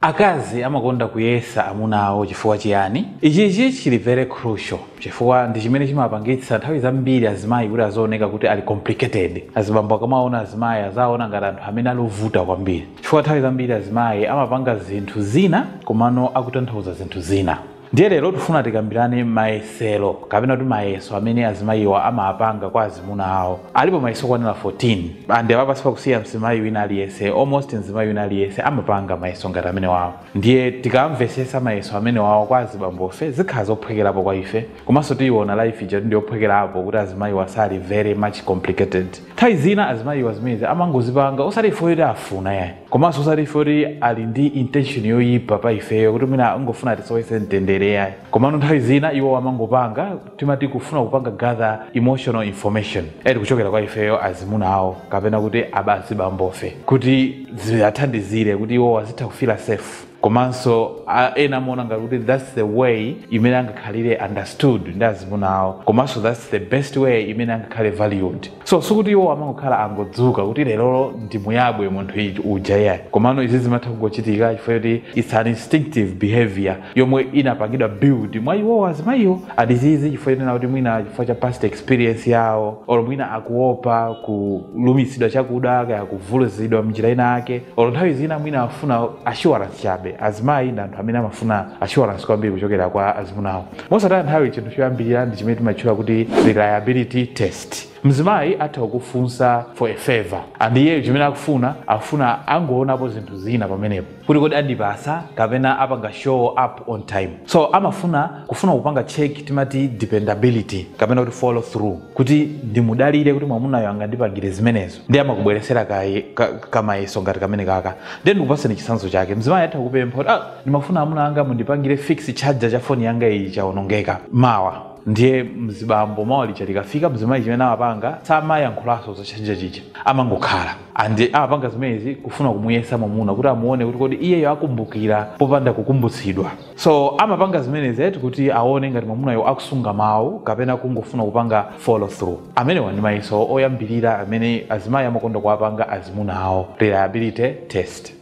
Akazi amakonda kuyesa amuna awo chifukwa chiyani? Ichichi chili very crucial chifukwa ndi chimene chimapangitsa nthawi zambiri azimayi kuti azioneka kuti ali complicated. Azibambo akamaona azimayi azawaona ngati anthu amene ali ovuta kwambiri chifukwa nthawi zambiri azimayi amapanga zinthu zina komano akutanthauza zinthu zina. ndiye lero tifuna tikambirane mayesero kapena kuti mayeso amene azimayiwa amapanga kwa azimuna awo alipo mayeso okwanira 14 ande apapa sipakusiya mzimayi wina aliyense almost mzimayi wina aliyense amapanga mayeso ngati amene wawo ndiye tikamvesesa mayeso amene wawo kwa azibambofe zikhala zophwekerapo kwa ife komanso tiyiona life ija kuti ndiyophwekerapo kuti azimayiwa sali very much complicated Nthawi zina azimayiwa zimenezi amangozipanga osati chifukwa choti afuna yayi komanso osati chifukwa choti ali ndi intention yoyipa pa ifeyo kuti mwina angofuna atisowetse mtendere yayi komano nthawi zina iwo amangopanga timati kufuna kupanga gather emotional information eti kuchokera kwa ifeyo azimuna awo kapena kuti aba- azibambofe kuti ziwathandizire kuti iwo azitha kufila safe komanso a- ena amaona ngati kuti thats the way imene angakhalire understood ndi azimuna awo komanso thats the best way imene angakhale valued so sikuti iwo amangokhala angodzuka kuti lerolo ndimuyabwe munthu iji- uja yayi komano izi zimatha kungochitika chifukwa choti its an instinctive behavior yomwe inapangidwa build mwa iwowo azimayiwo and izizi chifukwa chonena kuti mwina chifukwa cha past experience yawo olo mwina akuopa kulumitsidwa chakuda kaya kuvulazidwa mnjira ina yake olo nthawi zina mwina afuna assurance chabe azimayi ndi anthu amene amafuna assurance kwambiri kuchokera kwa azimuna awo mosataya nthawi chinthu choyambirira ndi chimene timatchula kuti reliability test mzimayi atha kufunsa for a favor and iyeyo chimene akufuna akufuna angoonapo zinthu zina pamenepo kuti kodi andipasa kapena apanga show up on time so amafuna kufuna kupanga check timati dependability kapena kuti follow through kuti ndimudalire kuti mwamunayo angandipangire zimenezo ndiye amakubweresera kaye- ka- kamayeso ngati kamene kaka ndiye ndikupaseni chitsanzo chake mzimayi atha kupempha kuti ah, ndimafuna amuna anga mundipangire fix charger cha foni yanga iyi chaonongeka mawa ndiye mzibambo mawa lija likafika mzimayi chimene amapanga samayankhulanso za charger chija amangokhala and amapanga zimenezi kufuna kumuyesa mwamuna kuti amuone kuti kodi iyeyo akumbukira popanda kukumbutsidwa so amapanga zimenezi eti kuti aone ngati mwamunayo akusunga mawu kapena kungofuna kupanga follow through amenewa ndi mayeso oyambirira amene azimayi amakonda kuwapanga azimuna awo reliability test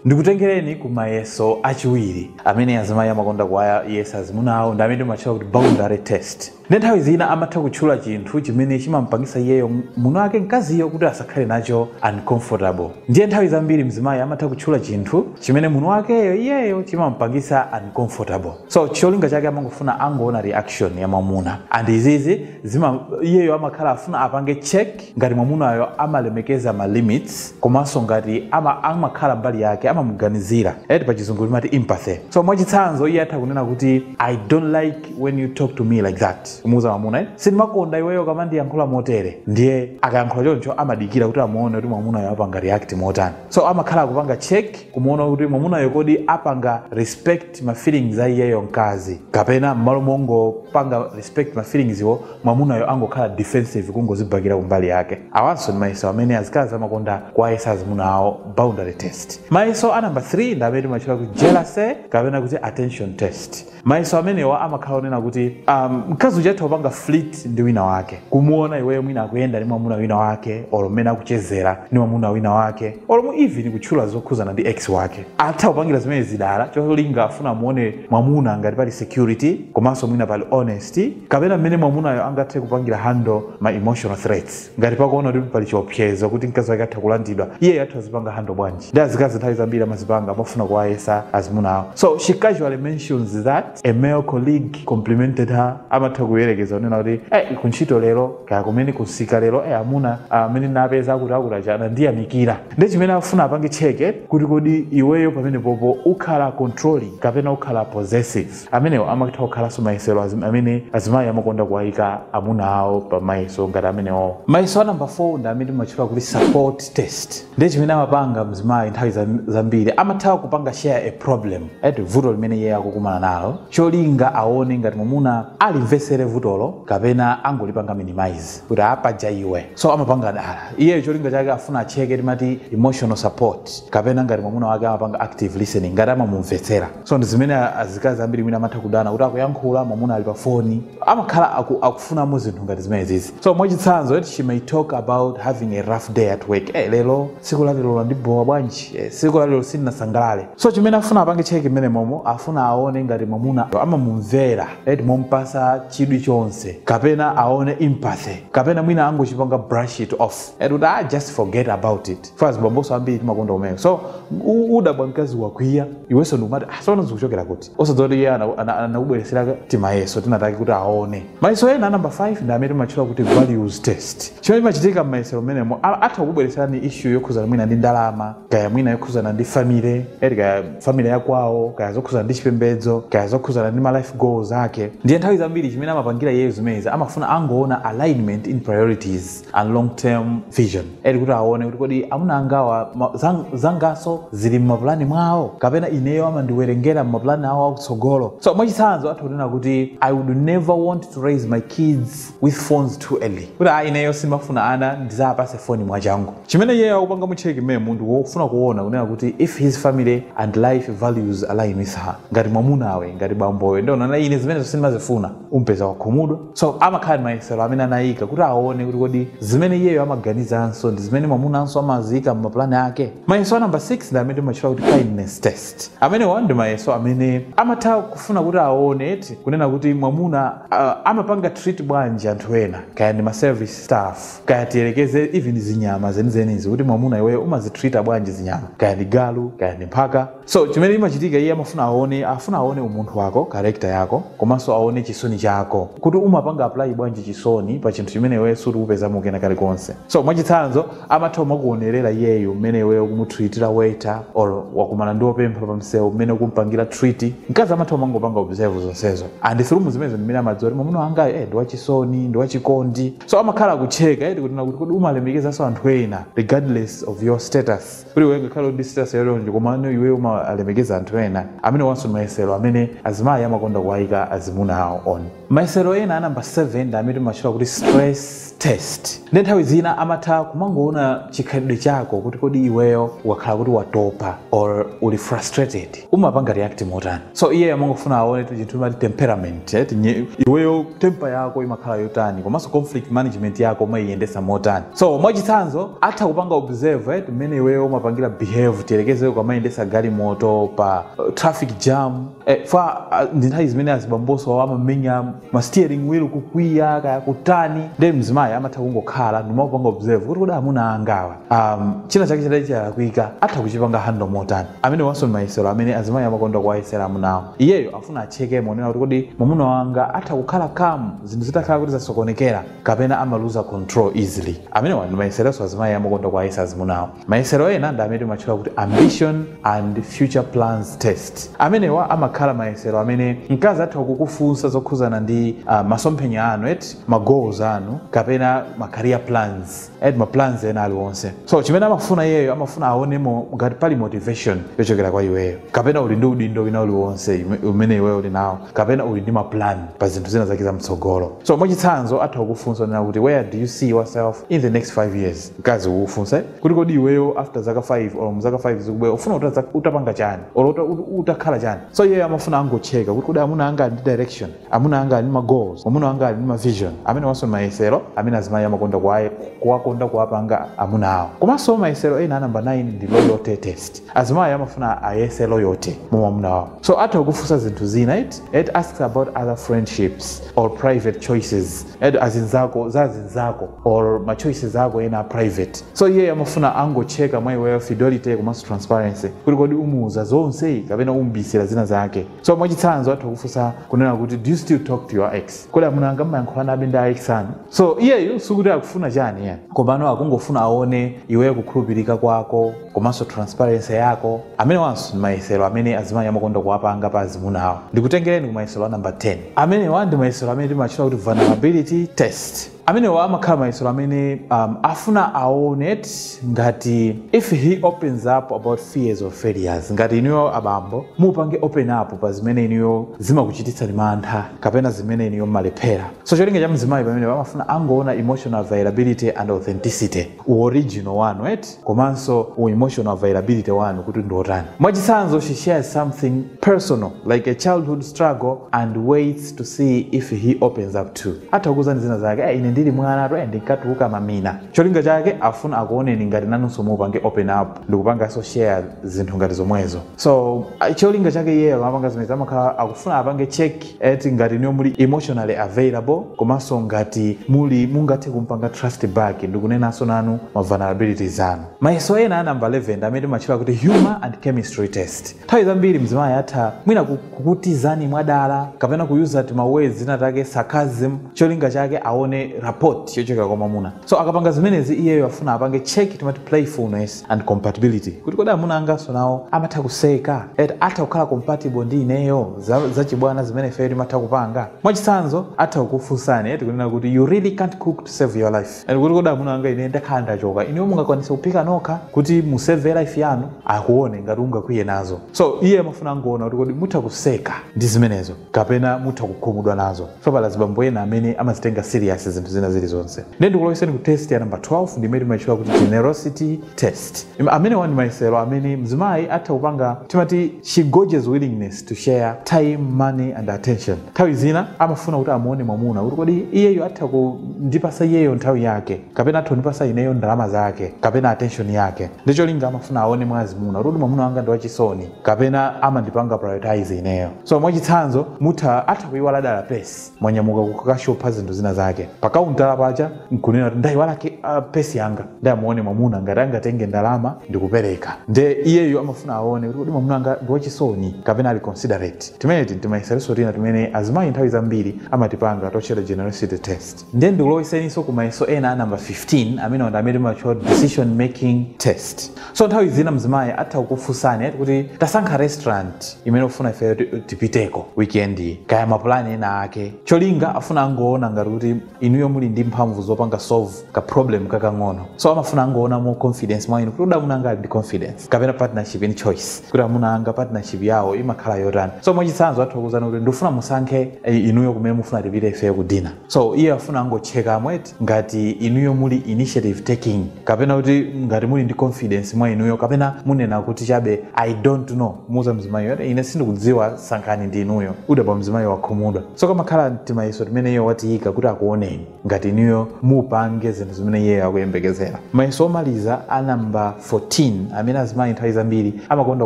ndikutengereni ku mayeso achiwiri amene azimayi amakonda kuwayesa azimuna awo ndi amene timatchula kuti boundary test Ndiye nthawi zina amatha kutchula chinthu chimene chimamupangisa iyeyo muna wake mkaziyo kuti asakhale nacho uncomfortable. Ndiye nthawi zambiri mzimayi amatha kutchula chinthu chimene muna wakeyo iyeyo chimamupangisa uncomfortable. So cholinga chake amangofuna angoona reaction ya mwamuna and izizi zima iyeyo amakhala afuna apange check. ngati mwamunayo amalemekeza ma limits komanso ngati ama amakhala mbali yake amamuganizira eti pa chizungu timati empathy so mwachitsanzo iye atha kunena kuti i don't like when you talk to me like that kumuuza mwamuna eh? sindimakonda iweyo ukamandiyankhula motere ndiye akayankhula choncho amadikira kuti amuone kuti mwamunayo apanga react motani so amakhala akupanga check kumuona kuti mwamunayo kodi apanga respect ma feelings a iyeyo mkazi kapena mmalo mongopanga respect ma feelings wo mwamunayo angokhala defensive kungozibhakira kumbali yake awanso ndi mayeso amene azikazi amakonda kuwayesa azimuna awo boundary test mayeso a number 3 ndi amene timatchula kuti jealousy kapena kuti attention test mayeso amenewa amakhala onena kuti um, mkazi uja atha kupanga flirt ndi wina wake kumuona iweyo mwina akuyenda ndi mwamuna wina wake olo mmene akuchezera ndi mwamuna wina wake olo mu even kutchula zokhuzana ndi ex wake atha kupangira zimenezi dala cholinga afuna amuone mwamuna ngati pali security komanso mwina pali honesty kapena mmene mwamunayo angathe kupangira handle ma emotional threats ngati pakuona kuti pali chiopsezo kuti mkazi wake atha kulandidwa iyeyo atha azipanga handle bwanji ndi azikazi nthawi zambiri amazipanga amafuna kuwayesa azimuna awo so she casually mentions that a male colleague complimented her amatha kuyerekeza kunena kuti eh kuntchito lero kaya kumene kusika lero eh amuna amene napeza akuti akuti watchena andiyamikira ndiye chimene afuna apange cheke kuti kodi iweyo pamenepopo ukhala controlling kapena ukhala possessive Amenewo amatha kukhalanso mayesero azim- amene azimayi amakonda kuwayika amuna awo pa mayeso ngati amenewo. Mayeso a namba 4 ndi amene timatchula kuti support test. Ndiye chimene amapanga mzimayi nthawi zam- zambiri amatha kupanga share a problem eti vuto limene iye akukumana nalo cholinga aone ngati mwamuna alimvetsere vutolo kapena angolipanga minimize kuti apaja iwe so amapanga dala iyeyo cholinga chake afuna acheke timati emotional support kapena ngati mwamuna wake amapanga active listening ngati amamumvetsera so ndi zimene a- azikazi ambiri mwina amatha kudana kuti akuyankhula mwamuna ali pa foni amakhala aku, akufunamo zinthu ngati zimenezi so mwachitsanzo eti she may talk about having a rough day at work eh, lero siku la lero landibowa bwanji eh, siku la lero sindinasangalale so chimene afuna apange cheki mmenemomo afuna aone ngati mwamuna amamumvera eti momupatsa chidwi chonse kapena aone empathy kapena mwina angochipanga brush it off eti kuti ah, just forget about it ife azibambonso ambiri timakonda zimenezo so u- udabwa mkazi wakwiya iwenso ndikumati ah, sono zikuchokera kuti osadziwa kuti iye ana- ana- anakubweretsera timayeso tinatake kuti aone mayeso ena namba 5 ndi amene timatchula kuti values test chimene chimachitika m'mayesero mmenemo a- atha kubweretserani issue yokhuzana mwina ndi ndalama kaya mwina yokhuzana ndi family eti kaya family yakwawo kaya zokhuzana ndi chipembedzo kaya zokhuzana ndi ma life goals ake ndiye nthawi zambiri chimene amapangira iyeyo zimenezi amafuna angoona alignment in priorities and long term vision eti kuti aone kuti kodi amuna angawa ma- zang- zangaso zili mmapulani mwawo kapena ineyo amandiwerengera mmapulani awo akutsogolo so mwachitsanzo atha kunena kuti i would never want to raise my kids with phones too early kuti a ineyo sindimafuna ana ndizapase foni mwachangu chimene iyeyo akupanga mu check imeneyi ndi wofuna kuona kunena kuti if his family and life values align with her ngati mwamunawe ngati bambowe ndikunena ine zimenezo sindimazifuna umpeza wakhumudwa so amakhala ndi mayesero amene anayika kuti aone kuti kodi zimene iyeyo amaganizanso ndi zimene mwamunanso amaziyika m'mapulani ake mayeso a namba 6 ndi amene timatchula kuti kindness test amenewa ndi mayeso amene amatha kufuna kuti aone eti kunena kuti mwamuna uh, amapanga treat bwanji anthu ena kaya ndi ma service staff kaya tiyerekeze even zinyama zenizenizi kuti mwamuna iweyo umazitreata bwanji zinyama kaya ndi galu kaya ndi mphaka so chimene imachitika iye amafuna aone afuna aone umunthu wako karekta yako komanso aone chisoni chako kuti umapanga apply bwanji chisoni pa chinthu chimene iwe sukupezamo kena kalikonse so mwachitsanzo amatha kumakuonerera iyeyo mmene iwe ukumutreatira waiter or wakumana ndi opempha pa msewu mmene ukumpangira treat mkazi amatha kumangopanga observe zonsezo and through zimenezo ndimene amadziwa kuti mwamuna wangayo eh, ndi wachisoni ndi wachikondi so amakhala akucheka eti kunena kuti kodi umalemekezanso anthu ena regardless of your status kuti iwe ngakhale ndi status ya choncho komano iwe umalemekeza anthu ena amene wanso ndi mayesero amene azimayi amakonda kuwayika azimuna awo on mayesero ena anamba 7 ndi amene timatchula kuti stress test ndi nthawi zina amatha kumangoona chikhalidwe chako kuti kodi iweyo ukakhala kuti watopa or uli frustrated umapanga react motani so iye amangofuna aone eti chinthu timati temperament eh, tinye- iweyo temper yako imakhala yotani komanso conflict management yako umayiyendesa motani so mwachitsanzo atha kupanga observe eh, mmene iweyo umapangira behave tiyerekeze ukamayendesa galimoto pa uh, traffic jam eh, fa uh, ndi nthawi zimene azibamboso amamenya ma steering wheel kukwiya kaya kutani nde mzimayi amatha kungokhala n'kumapanga observe kuti kodi amuna angawa um, china chake chitati chalakwika atha kuchipanga handle motani amene wanso ndi mayesero amene azimayi amakonda kuwayesera amuna awo iyeyo afuna acheke kunena kuti kodi mwamuna wanga atha kukhala calm zinthu zitakhala kuti zasokonekera kapena amaluza control easily amenewa ndi mayeseronso azimayi amakonda kuwayesa azimuna awo Mayesero ena ndi amene timatchula kuti Ambition and Future Plans Test. Amenewa amakhala mayesero amene mkazi atha kukufunsa zokhudzana ndi uh, masomphenya anu eti ma goals anu kapena ma career plans eti ma plans ena aliwonse. So chimene amafuna iyeyo amafuna aonemo ngati pali motivation yochokera kwa iweyo kapena uli ndi udindo wina uliwonse umene iweyo uli nawo kapena uli ndi ma plan pa zinthu zina zake za mtsogolo. So mwachitsanzo atha kukufunsa kunena kuti where do you see yourself in the next 5 years mkazi ukufunsa kuti kodi iweyo after zaka 5 or muzaka 5 zikubwera ufuna utaza- utapanga chani or uta- ut- utakhala chani so iyeyo amafuna angocheka kuti kodi amuna anga ali ndi direction amuna anga ali ndi ma goals amuna anga ali ndi ma vision amene wanso mayesero amene azimayi amakonda kuwaye- kuwakonda kuwapanga amuna awo komanso mayesero ena anamba 9 ndi loyalty test azimayi amafuna ayese loyalty mu mwamuna wawo so atha kukufunsa zinthu zina it, it asks about other friendships or private choices it azinzako za azinzako or ma choices ako ena a private so iyeyo amafuna angocheka mwa iweyo fidelity komanso transparency kuti kodi umuuza zonse kapena umubisira zina zake so mwachitsanzo atha kufunsa kunena kuti do you still talk to your ex kodi amuna anga mmayankhulanabe ndi a ex anu so iyeyo sikuti akufuna chani ayi komano akungofuna aone iweyo kukhulupirika kwako komanso transparency yako amene wanso ndi mayesero amene azimayi amakonda kuwapanga pa azimuna awo ndikutengereni ku mayesero a number 10 amenewa ndi mayesero amene timatchula kuti vulnerability test amenewa amakhala mayesero amene um, afuna aone eti ngati if he opens up about fears or failures ngati inuyo abambo mupange open up pa zimene inuyo zimakuchititsani mantha kapena zimene inuyo mmalephera so cholinga cha mzimayi pamene amafuna angoona emotional availability and authenticity uoriginal wanu eti komanso u emotional availability wanu kuti ndi otani mwachitsanzo she shares something personal like a childhood struggle and waits to see if he opens up too atha kukuuzani zina zake "Eh, ine ndili mwanatu eh, ndinkatuluka mamina cholinga chake afuna akuoneni ngati nanunso mupange open up ndikupanganso share zinthu ngati zomwezo so ah, cholinga chake iyeyo amapanga zimene amakhala akufuna apange check eti ngati inuyo muli emotionally available komanso ngati muli mungathe kumpanga trust back ndikunenanso nanu ma vulnerabilities anu mayeso ena a number 11 ndi amene timatchula kuti humor and chemistry test nthawi zambiri mzimayi atha mwina ku- kukutizani mwadala kapena kuyuza tima words tina take sarcasm cholinga chake aone rapport yochokera kwa mwamuna so akapanga zimenezi iyeyo afuna apange check timati playfulness and compatibility kuti kodi amuna anganso nawo amatha kuseka eti atha kukhala compatible ndi ineyo za, za chibwana zimene ifeyo timatha kupanga mwachitsanzo atha kukufunsani eti kunena kuti you really can't cook to save your life and kuti kodi amuna anga ine ndakhala ndachoka ineyo mungakwanise kuphika nokha kuti musave life yanu akuone ngati ungakwiye nazo so iye amafuna angoona kuti kodi mutha kuseka ndi zimenezo kapena mutha kukhumudwa nazo poti pali azibambo ena amene amazitenga serious zinthu zina zilizonse nde ndikuloweseni ku test ya namba 12 ndimene timaitchula kuti generosity test Im- amenewa ndi mayesero amene mzimayi atha kupanga timati she gauges willingness to share time money and attention nthawi zina amafuna kuti amuone mwamuna kuti kodi iyeyo atha kundipasa iyeyo nthawi yake kapena atha kundipasa ineyo ndalama zake kapena attention yake ndicholinga amafuna aone mwazimuna kuti kodi mwamuna wanga ndi wachisoni kapena amandipanga prioritize ineyo so mwachitsanzo mutha atha kuyiwala dala pesi mwanyamuka kukashopa zinthu zina zake pakaunta paja nkunena kuti ndayiwala ke- ah, pesi yanga ndamuone mwamuna ngati angatenge ndalama ndikupereka nde iyeyo amafuna aone kuti kodi mwamuna anga ndi wachisoni kapena ali considerate timeneti ndi timayesero tina timene azimayi nthawi zambiri amatipanga totchedwa generosity test ndiye ndikulowetseninso ku mayeso ena a namba 15 amenewa ndi amene timatchula kuti decision making test so nthawi zina mzimayi atha kukufunsani ati kuti tasankha restaurant imene ukufuna ifeyo ti- tipiteko weekend iyi kaya mapulani ena ake cholinga afuna angoona ngati kuti inuyo muli ndi mphamvu zopanga solve ka problem kakang'ono so amafuna angoona more confidence mwa inu kuti kodi amuna anga ali ndi confidence kapena partnership in choice kuti amuna anga partnership yawo imakhala yotani so mwachitsanzo atha kukuuzani kuti ndikufuna musankhe eh, inuyo kumene mufuna tipite ifeyo ku dina so iye afuna angotchekamo eti ngati inuyo muli initiative taking kapena kuti ngati muli ndi confidence mwa inuyo kapena munena kuti chabe i don't know muuza mzimayi ati ine sindikudziwa sankhani ndi inuyo udabwa mzimayiyo wakhumudwa so kamakhala timayeso timene iye watiyika kuti akuoneni ngati inuyo mupange zinthu zimene iyeyo akuyembekezera mayeso omaliza a namba 14 amene azimayi nthawi zambiri amakonda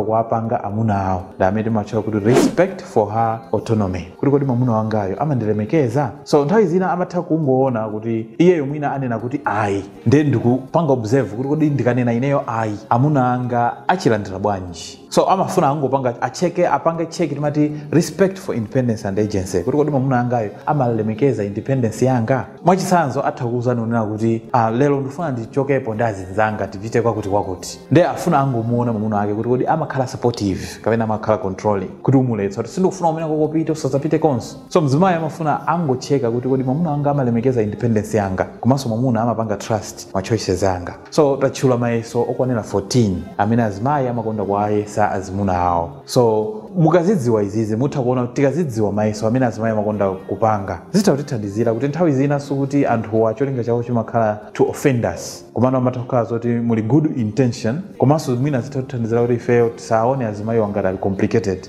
kuwapanga amuna awo ndi amene timatchula kuti respect for her autonomy kuti kodi mwamuna wangayo amandilemekeza so nthawi zina amatha kungoona kuti iyeyo mwina anena kuti ayi ndiye ndikupanga observe kuti kodi ndikanena ineyo ayi amuna anga achilandira bwanji so amafuna angopanga atcheke apange tcheki timati respect for independence and agency kuti kodi mwamuna angayo amalemekeza independence yanga mwachitsanzo atha kukuuzani kunena kuti ah, lero ndifuna ndichokepo ndi azinzanga tipite kwakuti kwakuti nde afuna angomuona mwamuna wake kuti kodi amakhala supportive kapena amakhala controlling kuti amuletsa kuti sindikufuna kumeneko upite usadzapite konse so mzimayi amafuna angotcheka kuti kodi mwamuna wanga amalemekeza independence yanga komanso mwamuna amapanga trust ma choices anga So tatchula mayeso okwanira 14 amene azimayi amakonda kuwayesa azimuna awo. So mukazidziwa izizi mutha kuona kuti tikazidziwa mayeso amene azimayi amakonda kupanga zitha kutithandizira kuti nthawi zina sikuti anthuwa cholinga chawo chimakhala to offend us komano amatha kukhala zoti muli good intention komanso mwina zitha kutithandizira kuti ifeyo tisaone azimayiwa ngati ali complicated.